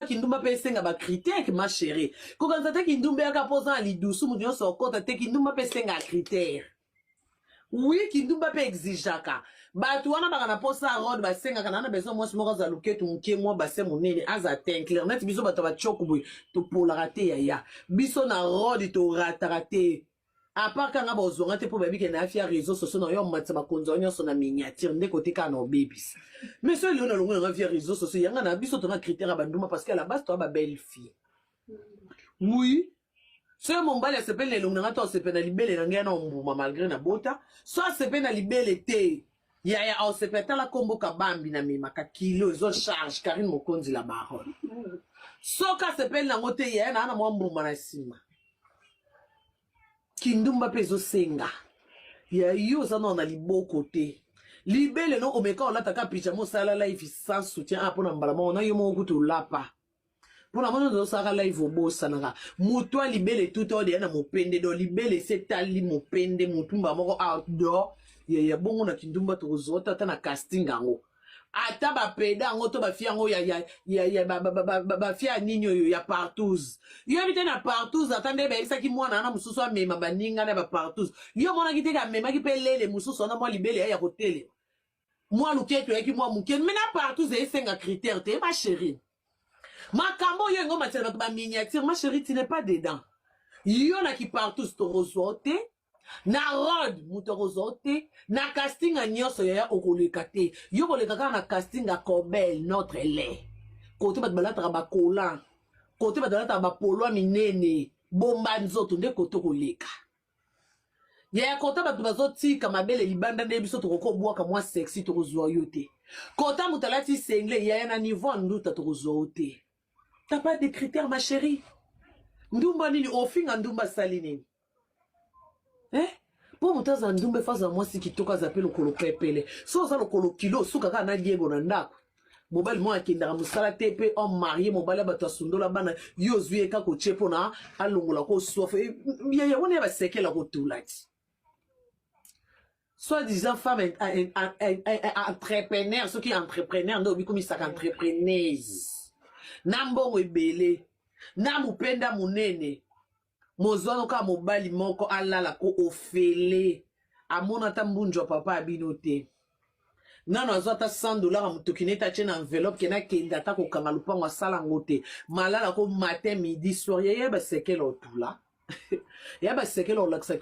kindumba mpe esenga ba critique ma chérie kokanisa te kindumba yaka mpo oza na lidusu moto nyonso okota te kindumba mpe esenga critere wi kindumba mpe exigeaka bato wana baka na mposa rod basengaka na na besoin mwasi moko aza luketu moke mwa base monene aza tinclair neti biso bato ya bacoko boye topolaka te yaya biso na rod torataka te apart kanga bozwa nga te mpo bayebi ke nayafi ya réseau sociaux na yo amatisa bakonzi yango nyonso na miniature nde kote kaka na obebisa mais soki lelo nalongo nanga via réseau sociaux yanga na biso tona critère ya banduma parce que à la base toya babelle fille oui soki mombali asepeli na elongi nanga to asepeli na libele na ngai yana ombuma malgré na bota so asepeli na libele te Yaya Osepe tala kombo kabambi na memaka kilo ezo charge Karine Mokonzi la baronne. Soki asepeli nango te yaya na ana mwa mbuma na nsima. Kindumba mpe ezosenga ya yo oza nao na liboko te libele no omeka olata ka pyjama osala live sans soutien a ah, mpo na mbala moko na yo moko kutu olapa mpo na moni ozosaka live obosanaka motu ya libele tuta odeya na mopende do libele se etali mopende motumba moko outdoor yaya bongo na kindumba tokozwa te ata na casting yango ata bapeda yango to bafia yango bafia ya nini oyo ya partous yo yebi te na partous ata nde bayebisaki mwana wana mosusu amema baninga na bapartous yo omonaki te amemaki mpe lele mosusu wana mwa libele ya ya kotelema mwa luketu oyaki mwa moke me na partout zali senga critère te ma chérie makambo oyo yango matela bato ba miniature ma chérie tu n'es pas dedans yo na kipartus tokozwa yo te na rod moto akozwa yo te na castinga nyonso yaya okoleka te yo koleka kaka na castinga cobel notre lait kote bato balataka bakolan kote bato balataka bapolwa minene bomba nzoto nde kote okoleka yaya kota bato bazotika mabele libanda nde biso tokokobwaka mwa sexy tokozwa yo te kota moto alati sengle yaya na niveau ya nduta tokozwa yo te ta pas de critère ma chérie ndumba nini ofinga ndumba asali nini eh? mpo moto aza ndumba efa azala mwasi kitoko aza mpe lokolo pepele so oza lokolo kilo osuka kaka na liego na ndako mobali moko akendaka mosala te mpe homme marie mobali ya bato asundola bana yo ozwi ye kaka otie mpona alongola ko soife yaya wana ya basekela kotula ti soit disant femme entrepreneur soki entrepreneur nde obikomisaka entrepreneuse na mbongo ebele na mopenda monene mozwano kaka mobali moko alala ko ofele amona ata mbunju ya papa ya bino te nano azwa ata 100 dollars ya motoki nete atye na enveloppe kena akende ata kokanga lopango asala yango te malala ko matin midi soir yaya basekele otula ya basekele olakisaki